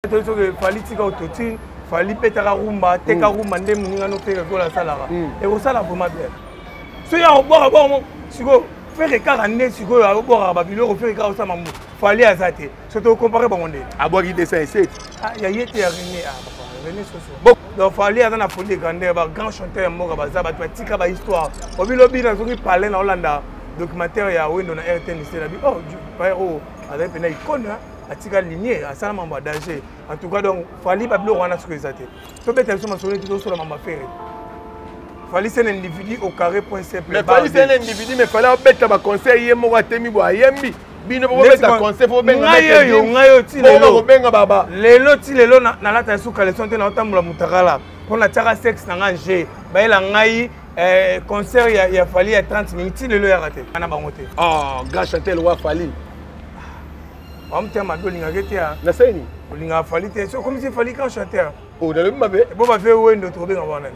toyebi soki fali tika autotune fali betaka rumba teka rumba nde moninga no fere kola asalaka ekosala vraimen bien soki akobwaka bongo sikoyo fere kaka nde sikoyo abwakaka babiloko fere kaka osala mambo fali aza te so tokompare bango nde abwaki 207 ya ye te ya rene rene soso donc fali aza na folie grandeur bagrand chanteur ya mboka baza bato batika bahistoire obilobi na soki palin na olanda documentaire ya wendo na rtnc na bi oh, oh azali mpena icone atika linie asala mambo ya danger en tout cas donc fali babiloko wana soki eza te tobeta biso masolo neti tosola mambo ya fere fali c'est un individu au carré point simple mais fali c'est un individu mais fali abeta baconseil ye moko atemi bo ayembi bino bobeta conseil po bengayo ngayo ti lelo kobenga baba lelo ti lelo nalata suka leson te naotambola motakala mpo natiaka sexe na ngai je bayela ngai eh, concert ya, ya fali ya 30 minutes ti lelo yaka te ana bango te oh, ah, ga chantel wa fali Wa mutema mabe olingaka te ya. Na seni. Olingaka fali te. So comme si fali quand chanteur. Oh na lobi mabe. Bo ba fe wendo to benga wana.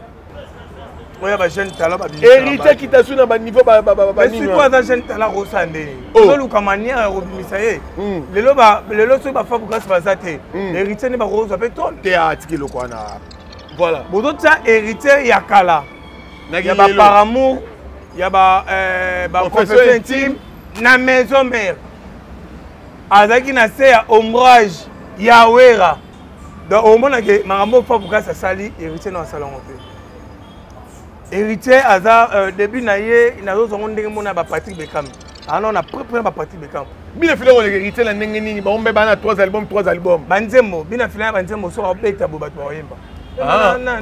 Oya ba jeune talent ba bimisa. Héritier qui t'a su na ba niveau ba ba ba ba nini. Mais si toi za jeune talent ko sande. Oh. To luka manière ya ko bimisa ye. Hmm. Lelo ba lelo so ba fa bukas ba za te. Hmm. Héritier ne ba ko zo pe ton. Te a tiki loko wana. Voilà. Bozo tsa héritier ya kala. Na ya ba par amour, ya ba euh ba confession intime na maison mère. azalaki na se ya ombrage ya wera donc omonake makambo ofa bukasi asali héritier na asala yango te héritier aza euh, début na ye nazozwango ndenge mona bapatrick bekam ano ah na prepre na bapatrick bekam bina fila koleka héritier na ndenge nini bango mpe bana 3 album 3 album banzembo bina fila ya banzembo soki abeta bo bato bakoyemba ah.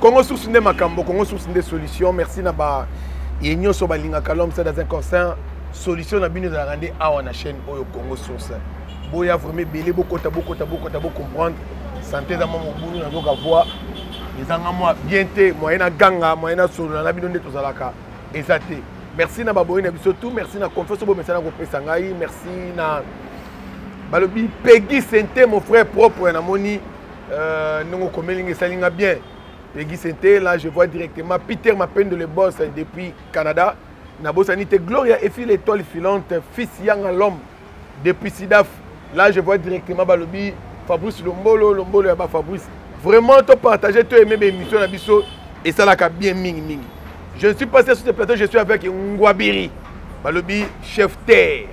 congo source nde makambo congo source nde solution merci na ba ye nyonso balingaka l'homme c'est dans un concert solution na bino ezalaka nde awa na chaîne oyo congo source boya vraiment ebele bokota bokota bokota bocomprendre sante eza mwa mobulu nazoka voi ezanga mwa bien te moyen na ganga moyen na solola na bino nde tozalaka eza te merci na baboyi na biso tout merci na confiance oyo bomesana kopesa ngai merci na balobi pegi sente mon frère propre namoni euh, ndenge okomeli nga esali nga bien pegi sente là je vois directement peter mapendo le boss depuis canada nabosani te gloria efi l'étoile filante fils yanga l'homme depuis sidaf là je vois directement balobi fabrice lombolo lombolo ya bafabrice vraiment topartage to aime baémission na biso esalaka bien mingi mingi je ne suis pas sur ce plateau je suis avec ngwabiri balobi chef terre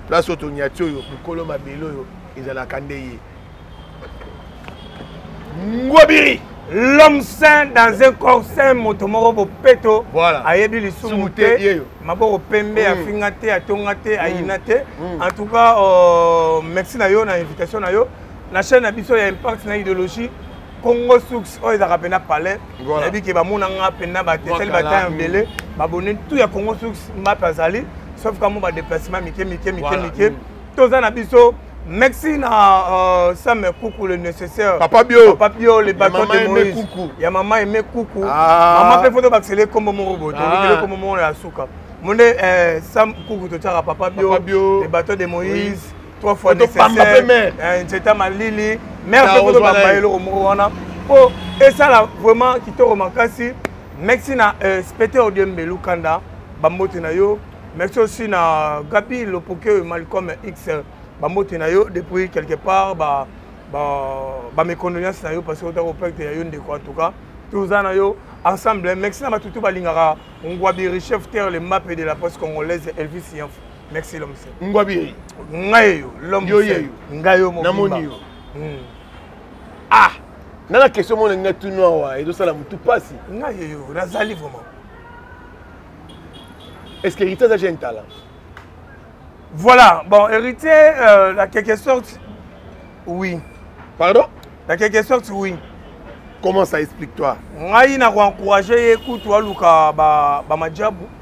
place oyo tonyati oyo mokolo mabele oyo ezalaka nde ye ngobiri l'homme saint dans un corps saint moto moko bopeto voilà. ayebi lisumu te maboko pembe mm. afinga te atonga te mm. ayina te mm. en tout cas euh, merci na yo na invitation na yo na chaîne na biso ya impact na idéologie congo source oyo ezalaka mpe na palais nayebi ke bamona nga mpe na batesali bata ebele babone tout ya congo source mbape azali sauf kamo badeplacement mike mike mike mike mm. toza na biso Merci na euh, Sam Koukou le nécessaire. Papa Bio. Papa Bio le bâton de Moïse. Koukou. Ya maman aimé Koukou. Ah. Maman pe photo baxele comme mon robot. Ah. Kele comme mon la souka. Mon euh, Sam Koukou to tchara papa Bio. Papa Bio. Le bâton de Moïse. Oui. trois fois tobamba mpe mare eh, nzeta malili mare mpe mpo tobamba eloko moko wana mpo esala vraiment kitoko makasi merci na euh, spete odiembe lukanda bambote na yo merci aussi na gabi lopoke malcom x bambote na yo depuis quelque part ba, ba, ba mes condoléances na yo parce que ota koperte ya yo ndeko en tout cas toza na yo ensemble merci na batutu balingaka ngwabi richef terre le mape de la poste congolaise elvis yanfo merci l'homme seul ngwabi yeyi ngai yo l'homme yo yeyo ngai yo mobimba namoni yo hmm. ah na na question mona ngai tunu awa ezosala motu mpasi ngai yeyo nazali vraiment est ce que héritier aza jeune talent voilà bon héritier euh, la quelque sorte oui pardon la quelque sorte oui comment ça explique toi ngai na koencourage ye kutu aluka bamajabu ba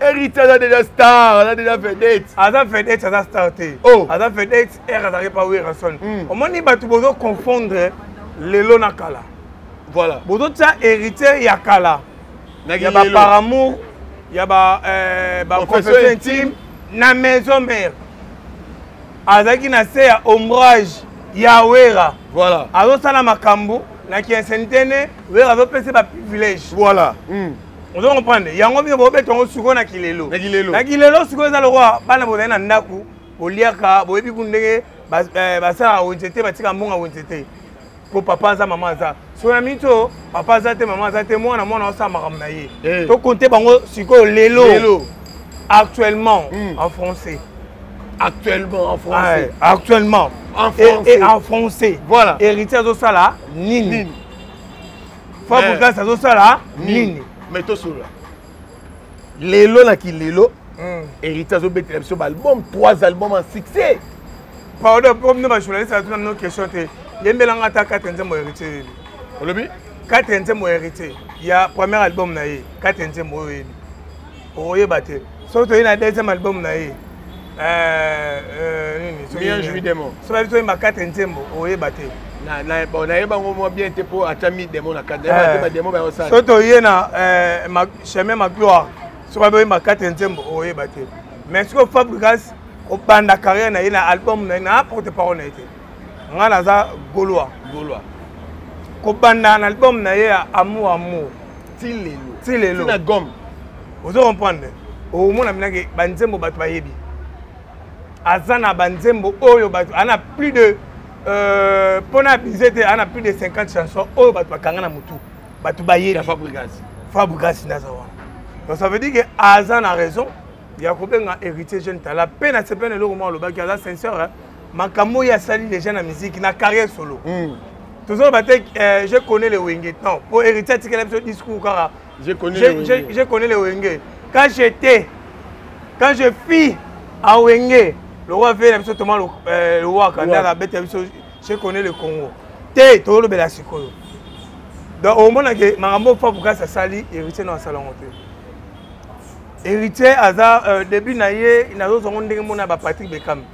Héritier aza déjà star, aza déjà vedette. Aza vedette, aza star te. Oh. Aza vedette, er azalaki pa Werrason. Mm. Omoni bato bozo confondre lelo na kala. Voilà. Bozo tia héritier ya kala. Ya ba par amour, ya ba euh, ba confession intime na maison mère. Azaki na se ya ombrage ya Wera. Voilà. Azo sala makambo na kinsentene Wera azo pesa ba privilège. Voilà. Mm. ozo comprendre yango bino bobeta yango sikoyo na kilelo na kilelo sikoyo eza lokola bana bozali na ndako boliaka boyebi ku ndenge eh, basalaka wenze te batika mbonga wenze te mpo papa aza mama aza soki na miniti oyo papa aza te mama aza te mwana mwana osala makambo na ye eh. tokonte bango sikoyo lelo actuellement hmm. en français actuellement en français actuellement en français et en français voilà héritier azosala nini fabregas eh. azosala nini mais tosolola lelo na kilelo hmm. héritier azobetela biso baalbum trois album en succès pardon po bino bajournaliste atuna no question te yembelanga ata kate nzembo héritier yebi olobi kate nzembo héritier ya premier album na ye kate nzembo oyo yebi okoyeba te soki toye na deuxième album na ye euh, euh, soki babi toyemba kate nzembo okoyeba te nayeba yango mwa bien te mpo ata mi demo na kati bademo bayosala soki toye na euh, chemin ma gloire soki babi oyemba kate nzembo okoyeba te mais soki fabrigas obanda carrière na ye na album na ye na porte parole na ye te ngai naza golois golois kobanda na album na ye ya amour amour ti lelo ti lelo na gomme ozo comprendre omona minake banzembo bato bayebi aza na banzembo oyo bato ana plus de euh, mpo na abuse te ana plus de 50 chanson oyo bato bakanga na motu bato bayebi fabrigasi naza wana donc ça veut dire que aza na raison ya kobenga héritier jeune tala mpe na sepene eloko mwa olobaki aza sincere makambo oyo asali déjà na musique na carrière solo mm. tozoloba te euh, je connais le wenge non mpo héritier atikela biso discours kaka je connais le wenge quand j'étais quand je fis à wenge lokola veye na biso toma lowaka euh, ndaka abeta biso je connais le congo te tozolobela sikoyo donc omonake makambo oyo papu kasi asali héritier no asala yango te héritier aza euh, début na ye nazozwa ngo ndenge mona ba patrick bekame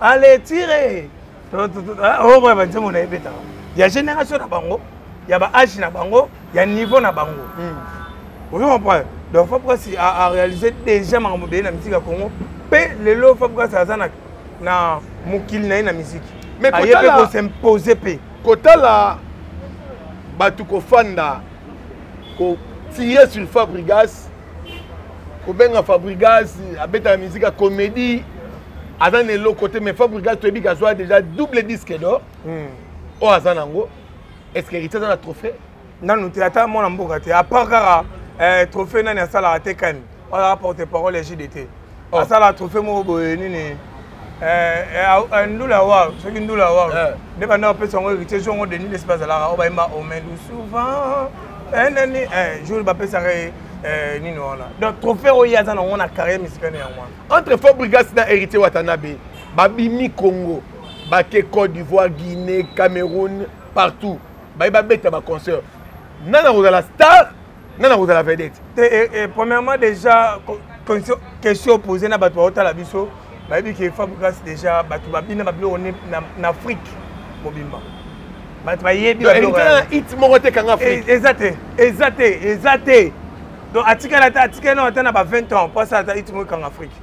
ale tire ah, okoya oh, banzembo na ebetaka ya génération na bango ya baage na bango ya niveau na bango hmm. ozo comprendre donc fabrikasi aréalise déjà makambo ebele na miziki ya congo mpe lelo fabrikasi aza na mokili na ye na miziki aye mpe kosimpose mpe kotala bato kofanda kotire sur fabrigas kobenga fabrigas abetaka miziki ya comédie aza na eloko te mais fabrigas toyebi ke azwa déjà double disque d'or hmm. oyo aza nango est ce que héritier aza na trophée nanu te ata mwana mboka te apart kaka eh, trophée nani asalaka te kani oyo aporte parole ya jdt oh. asala trophée moko boye nini eh, eh, ndula ya waru soki ndula ya waru nde banda bapesa yango héritier jour yango denis lesi bazalaka oyo bayemba omelu souvent enani jour bapesaka ye nini wana donc trophée oyo ye aza nango na carrière musicale yango wana entre fort brigas na héritier watanabe babimi congo bake côte d'ivoire guinée cameroun partout baye babeta baconcert nani akozala star nga nakozala vedete te eh, eh, premièrement déjà question opose na bato baotala biso bayebi ke fabrigas déjà bato babina babiloko na afrique mobimba bato bayebi it moko te kanga afrique eh, eza te eza te eza te donc atikala ata atikali nao ata na ba 20 ans mpo asala ata it moko ekanga afrique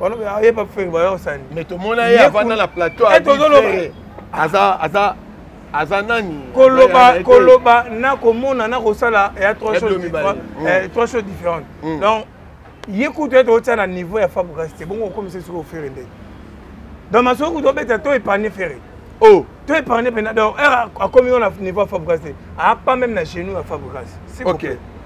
balobi ayeba fere baya kosala nini mais tomona ye avanda na plateau eh, aza aza aza nani koloba koloba na komona na kosala ya trois choses mm. différentes mm. donc ye kutu ete otia na niveau ya fabrikasi te bongo okomisa soki ofere nde donc masoki kutu obeta to épargne fere o oh. to épargne mpena donc heure akomi yo na niveau ya fabrikasi te apa meme na genou ya fabrikasi ok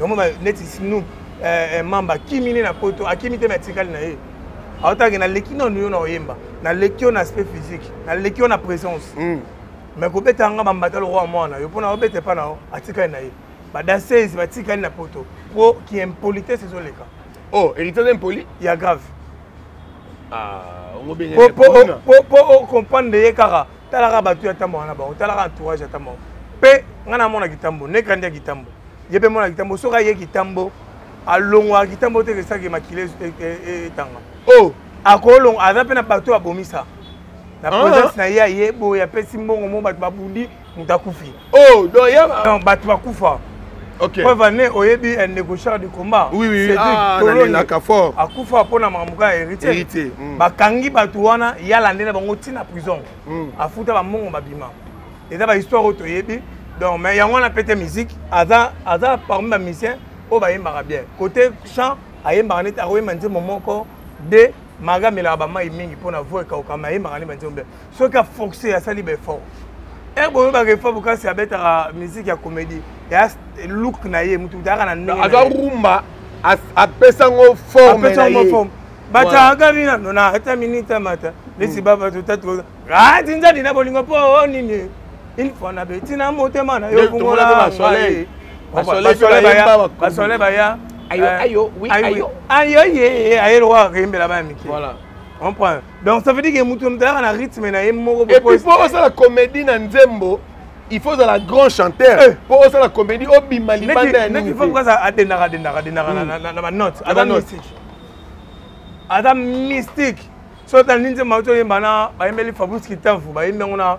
yango neti snoop eh, eh, mamba akimi nde na poto akimi te me atikali na ye aotake naleki nano yo na oyemba naleki yo na aspect physique naleki yo na présence mm. mais kobeta yanga bambata lokola mwana yo mpo na obeta epa na yo atikali na ye badansese batikali na poto mpo ki impolitesse ezoleka o oh, héritage impoli ya grave ah, po ocomprendre ye kaka talaka bato ya ntambo wana bango talaka entourage ya ntambo yango mpe ngai namona kitambo nekrandi ya kitambo ye mpe mona kitambo soki aye kitambo alongwaka kitambo te kesaki makila e, e, e, etanga o oh! akolonga aza mpe na bato oyo abomisa na ah! presence na ye aye boye apesi mbongo mo bato babundi moto akufi oh donc ya non bato bakufa okay. preuve ane oyebi un négociateur du combat oui, oui, oui. Ah, nalelaka fort akufa mpo na makambo kaka héritier, héritier. Mm. bakangi bato wana ya lande na bango ntina prison mm. afuta bambongo babima eza bahistoire oyo toyebi donc mais yango wana pete musique aza, aza parmi bamusicien oyo bayembaka bien côté chant ayembaka neti akoyemba nzembo moko de maga amelaka bamai mingi mpo na vo ekaukama ayembaka nde banzembo bien soki afoxe asali baeffort ere boyebaka efa bokasi abetaka miziki ya comédie ya look na ye motu ayaka na ndenge aza rumba apesa ngo forme na ye batanga bina nona ata minute amata lesi baba totatu atinza dina bolingo mpo oh, nini une fois na beti na motema na yo fungola basole baya ayo ayo ayo ayo ye aye lokola akembela baya mike comprendre donc ça veut dire que moto motalaka na rythme na ye moko et puis mpo osala comédie na nzembo il faut ozala grand chanteur eh. mpo osala comédie obima libanda ya nini adendaka adendaka adendaka hmm. na banote aza mystique aza mystique soki otala nini nzembo auti oyemba na bayembeli fabrice kitamfu bayembi yango na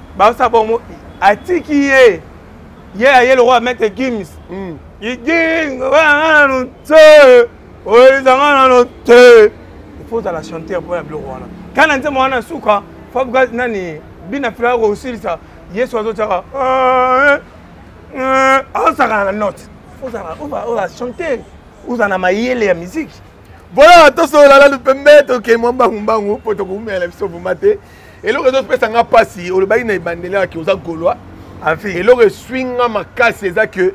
baosa bongo atiki ye ye aye lokola maitre gims hmm. igingo wana nanu te oyelizanga nano te ifo ozala chanteur mpo ya biloko wana kana nzembo wana na suka fabuka nani bina filaka kosilisa yesu azotyaka ah, eh, eh, azosakana na note ozala chanteur ozala na mayele ya miziki boyoka tosolola nanu pembe tokei mwa mbangumbangu mpo tokoumela biso vuma te eloko ezopesa nga mpasi olobaki na ebandeli yaki oza golois afi eloko eswi nga makasi eza ke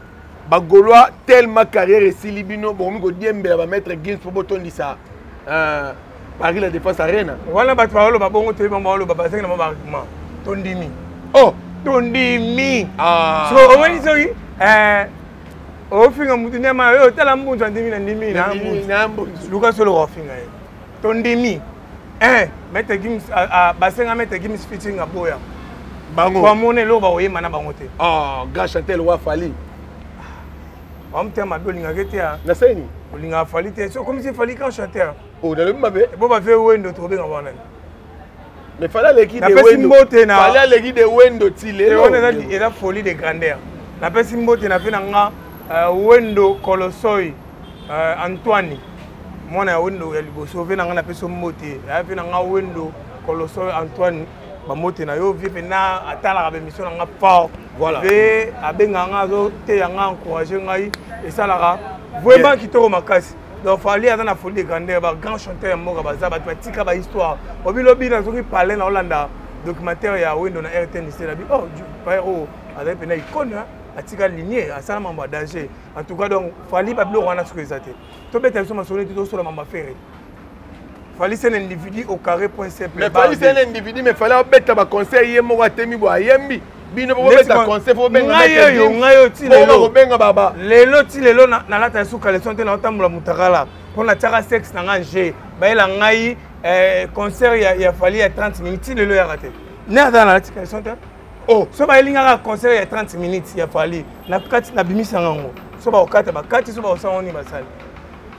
bagolois tellement carrière esili bino bokomi kodiembela bamaître gins mpo botondisa euh, paris la défense arena wana bato baoloba bongo toyebi bango baoloba bazangi na bango baargument tondimi oh tondimi ah. so omoni soki eh, ofinga mutu ndema yo otala mbunzu andimi na ndimi na mbunzu luka solo ofinga ye to ndimi eh maitre gims basenga maitre gims fitinga boya bango bamona eloko bakoyemba na bango te ah, grand chantel wa fali bamutema be olingaka te naseni olingaka fali te sokomisi fali grand chanteur oh, nalobi mabe eh, bo bafe wendo tokobenga wana mais fala aleki de wendo mbote na fala aleki de wendo ti lelo on eza eza folie de grandeur na pesi mbote na pe na nga euh, wendo kolosoi euh, antoine mwana ya wendo ya liboso pe na nga na pesi mbote ya pe na nga wendo kolosoi antoine bambote na yo vie mpena atalaka bemission na nga fort voilà. pe abengaka nga azoteya nga encourage ngai esalaka vraiment kitoko makasi donc fali aza na folie de grandeur ba grand chanteur ya mboka baza bato batika bahistoire obilobi nazoki palin na olanda documentaire ya wendo na rtnc na bi oh pare oyo oh, azali mpena icone atika linie asala mambo ya danger en tout cas donc fali babiloko wana soki eza te tobeta biso masolo neti tosola mambo ya fere fali c'est un individu au carré point simple mais fali c'est un individu mais fali abeta baconseil ye moko atemi bo ayembi bino bobeta conseil po bengangai oyo ngai oyo ti lelo kobenga baba lelo ti lelo nalata esu caleson te naotambola motakala mpo natiaka sexe na ngai je bayela ngai eh, concert ya fali ya 30 minutes ti lelo yaka te ne aza nalati caleson te oh. so bayeli ngai kaka concert ya 30 minutes ya fali nakati nabimisa ngango so bakokata bakati so bakosala ngo nini basali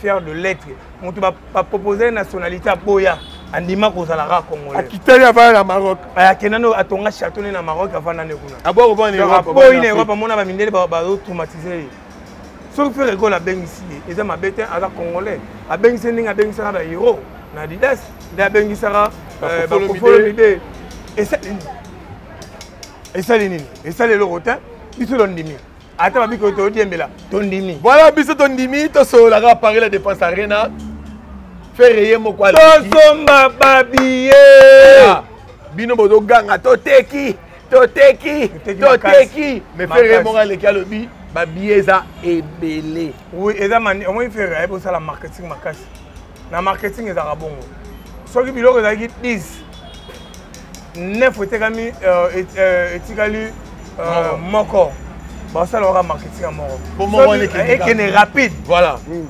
fier de lettre moto bapropose nationalité aboya andima kozala kaka congolaisakitali avanda na maroc akenda no atonga chateau ne na maroc avanda nde kuna aboyi na europe amona bamindele bazotraumatise ye soki fere ekolo abengisi ye eza mabe te aza congolais abengisi ye ndenge abengisaka bahero na didas nde abengisaka euh, bakofolo mide esali nini esali nini esali eloko te biso londimi ata babi koyo todiembela tondimi voilà biso tondimi tosololaka paris la défense arena fere ye moko tosomba babiye ah, bino bozoganga toteki toteki toteki mais fere ye moko aleki alobi babiye eza ebele oui eza omoni fere ayebi osala marketing makasi na marketing ezalaka bongo soki biloko ezalaki 10 9 etekami euh, euh, etikali euh, moko basalaka marketing ya moko ekende rapide voilà mm.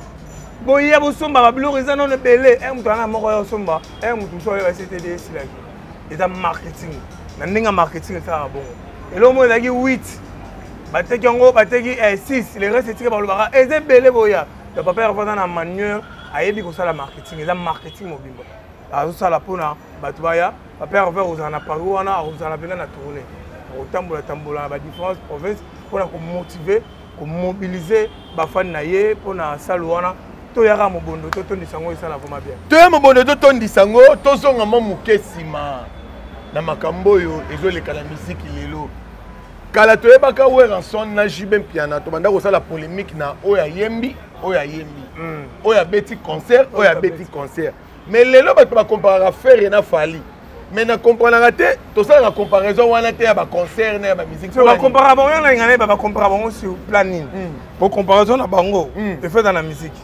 boya bosomba babiloko eza nono ebele e moto ana moko ya osomba e moto mosusu oyo ectd esilaki eza marketing na ndenge ya marketing esalaka bongo eloko moko ezalaki 8 bateki yango bateki 6 eh, le reste etika balobaka eza ebele boya ya papa herve aza na manuel ayebi kosala marketing eza marketing mobimba azosala mpona bato baya papa herve akozala na paris wana akozala mpenza na tourne akotambola tambola na badifférence province mpona komotive komobilize bafani na ye mpona salo wana toyaka mobondo totondisa yango esala vraimen bien toya mobondo totondisa yango tozonga mwa moke nsima na makambo oyo ezoleka na miziki lelo kala toyebaka werrason na jb mpiana tobanda kosala polémique na oyo ayembi oyo ayembi hmm. oyo abeti concert oyo abeti concert mais lelo bato bakomparaka ferre na fali mais na comprenaka te tosalaka comparaison wana te ya baconcert na ya bamusike bakompara bango ya nalinga nayeba bakompara bango sur plan nini hmm. po comparaison na bango hmm. efeta na musike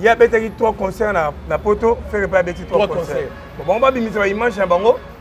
ye abetaki trois concert na poto ferre mpe abeti trois concert bango babimisa baimage na bango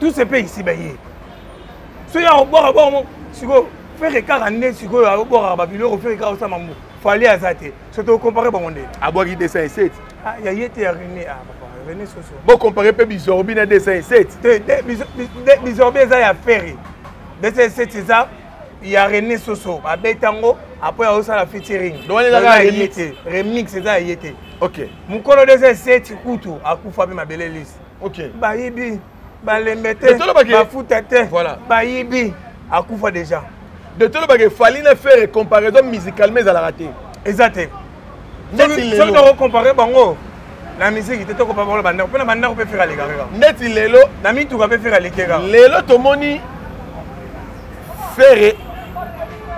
tout se paye ici baye soki akobwaka bongo sikoyo fere kaka nde sikoyo akobwakaka babiloko fere kaka osala mambo fali aza te so tokompare bango nde abwaki 207 ah, ya ye te ya rene ah, rene soso bokompare mpe bizorbi na 207 te bizorbi eza ya fere 207 eza ya rene soso abeta yango apres aosala featuring remix eza ya ye te mokolo 207 kutu akufa mpe mabele lisi okay. bayibi balembe te bafuta te voilà. bayibi akufa déjà de tolobaka efali na faire comparaison musicalement ezalaka te eza te soki tokocompare bango na misiki te tokopa bango na bandako mpe na bandako mpe fere aleka kaka ndeti lelo na mituka mpe fere aleke kaka lelo tomoni ferre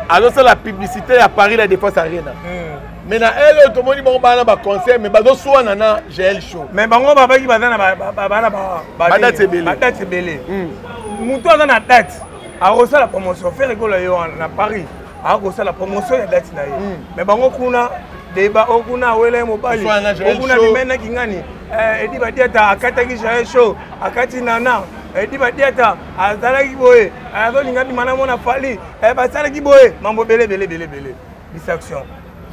azosala publicité ya paris la défense arena hmm. mais na ele oyo tomoni bango bana baconcert mais bazoswana na gl show mais bango babaki baza na badate ebele motu aza na date akosala promotion ferre ekola yo na paris akosala promotion ya date na ye mais bango kuna deba okuna awela ye mobali okuna bimena kingani edi badiata akataki jael show akati nana edi badiata azalaki boye azolinga bima na mona fali eh, basalaki boye mambo ebele ebele ebele ebele distraction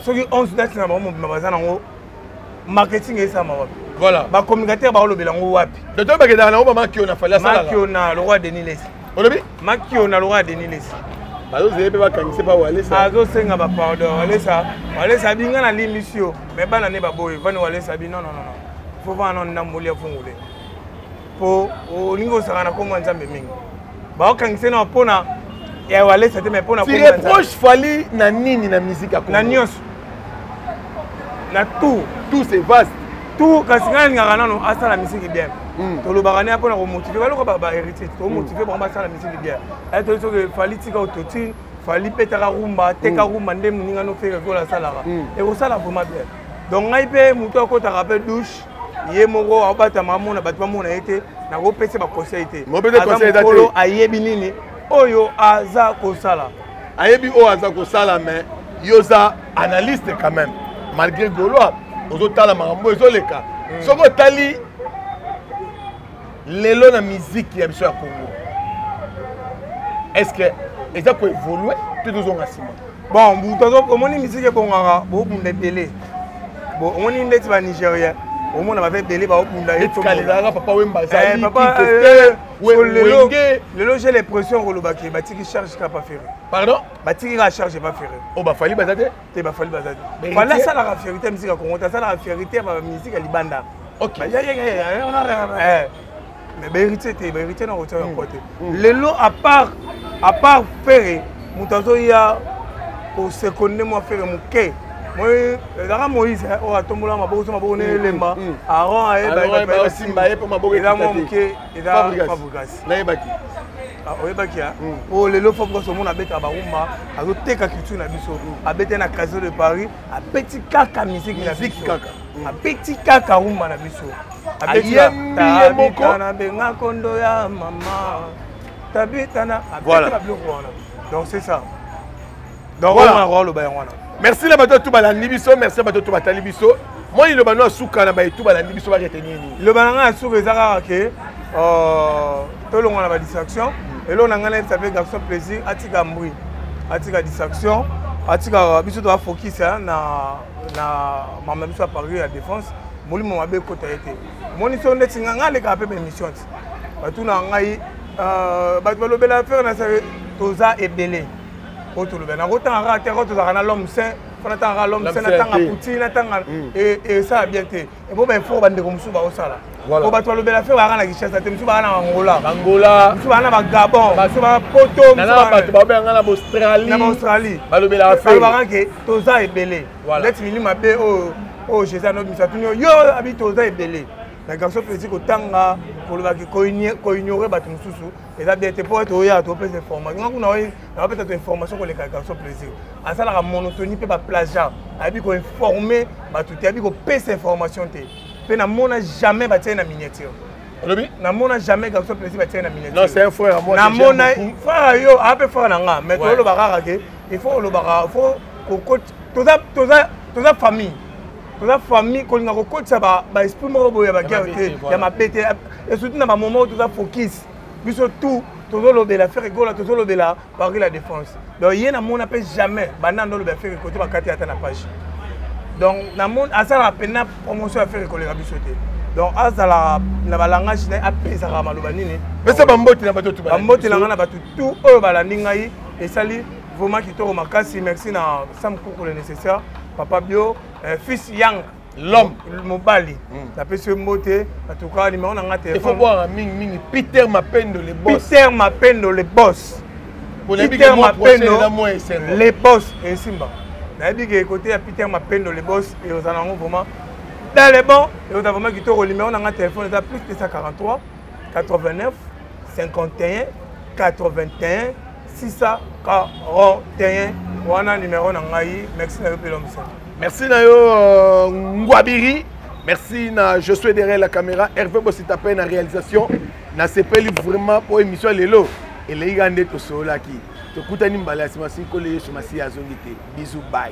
soki 11 date na bango mobima baza nango marketing esalama wapi voilà bacommunicateur baolobela yango wapi doto bakendaka nango bamakiona fali asalamakiona lokwa denis lesi olobi makiona lokwa denis lesi bazozele mpe bakangise mpa walesa azosenga bapardon walesa walesa abi nga nalimbisi yo me bana ne baboye vani walesa abi non non non fo vana nondamboli ya fungule po olingi ozala na kombo ya nzambe mingi baokangisa na mpona ya walesa te mai mpona reproche fali na nini na miziki ya na nyonso na tout tout c'est vaste tout kasi ngai nalingaka nano asala misiki bien hmm. tolobaka nde mpona komotive baloko baheritier tomotive bango basala misiki bien aye toyei soki fali tika ototine fali petaka rumba teka hmm. rumba nde moninga nofekekola asalaka hmm. ekosala vraimen bien donc ngai mpe motu akotaka mpe douche ye moko aobatama amona bato bamona ye te nakopesa baconseil te mokolo ayebi nini oyo aza kosala ayebi oyo aza kosala mais yo oza analyste quand même malgré golois ozotala makambo ezoleka hmm. soki otali lelo na miziki ya biso ya congo est ce que eza koevolue to tozonga nsima bon butu omoni miziki ebongaka bobunda ebele omoni ndeti banigérien omona baza ebele baobunda eh, eh, lelo j'ai l'impression kolobaki batiki charge kapa ferre pardon batiki kaka charge epa ferre oyo oh, bafali baza te te ba fali bazali fali asalaka fierité ya miziki ya kongo te asalaka fierité ya bamiziki ya libanda mais baheritier te baheritier na kotia yango te lelo apart apart fere moto azoya kosekonde mwa fere moke ezalaka moïse oyo atombola maboko so maboko ndenge elemba aron ayebaesimba ye mpo maboko eza mwa moke eza fabrikasi nayebaki Ah, oyebaki ya hmm. o oh, lelo fo koso mona abeta barumba azoteka culture na biso hmm. abeta na casino de paris abeti kaka musique na biso kaka hmm. abeti kaka rumba na biso ayembiye na benga kondo ya mama tabitana abeta na biloko wana donc c'est ça donc voilà na ko loba yango wana merci na bato tout balandi biso merci na bato tout batali biso moi liloba no asuka na baye tout balandi biso ba retenir nini liloba na ngai ya suka eza kaka ke euh, tolongwa na ba distraction eloko na ngai nayebisa mpe garçon plaisir atika mbri atika distraction atika biso toa focus na na mama biso ya paris ya défense molimo mabe ekota ye te omoni so ndeti nga ngai alekaka mpe baémission ti batuna ngai euh, bato balobela fere na sake toza ebele oyo tolobela nango otanga kaka te kaka tozalaka na lome saint fo natanga kaka lome saint natanga puti natanga mm. esala bien te epo baefort bandeko mosusu baosala po bato balobela fe bayaka na kinshasa te mosusu baya na angola angola mosusu baya na bagabon mosusu baya poto bato babenganga na baaustralie na baaustralie balobelaka fe balobaka ke toza ebele ndeti mili mabe oyo oyo jésus anobimisa tuni yo abi toza ebele na garçon toesi kotanga kolobaki koignore bato mosusu eza bien te mpo ete oya topesa information nga kuna oye napesa to information koleka garçon plaisir asalaka monotonie mpe baplagiat ayebi koinforme bato te ayebi kopesa information te mpe namona jamais batiai na miniature olobi namona jamais garçon plaisir batiai na miniaturenamona frère yo aa mpe frère na nga mais tolobaka kaka ke il faut olobaka faut toza famille toza famille kolinga kokotisa baesprit moko boye ya baguerre te ya mabe te esuti na bamoment oyo toza focus biso tout tozolobela fere gola tozolobela paris la défense donc ye namona mpe jamais banda ndo olobela fere kote bakati ata na page donc namoni asalaka mpena promotion ya fere koleka biso te donc azala na balangage na ye apesaka maloba nini pesa bamboti na bato bamboti na ngai na bato tout oyo balandi ngai esali vraiment kitoko makasi merci na sam kuku le nécessaire papa bio euh, fils yang l'homme mobali hmm. napesi yo mbote atuka nimero na nga telefonebwaka mingimingi peter mapendo le bos peter mapendo le bos peter mapendo le bos esimba nayebi ke kote ya peter mapendo le bos eozala yango vraiment dans le bon eoza vraiment kitoko nimero na nga telefone eza plus 243 89 51 81 641 wana numero na ngai merci na yo mpela mosala merci na yo euh, ngwabiri merci na je suis derrière la caméra herve bosita mpe na réalisation nasepeli vraiment mpo émission lelo elei ka nde tosololaki tokutani mbala ya nsima sikole yesu masiya azongi te bizu bai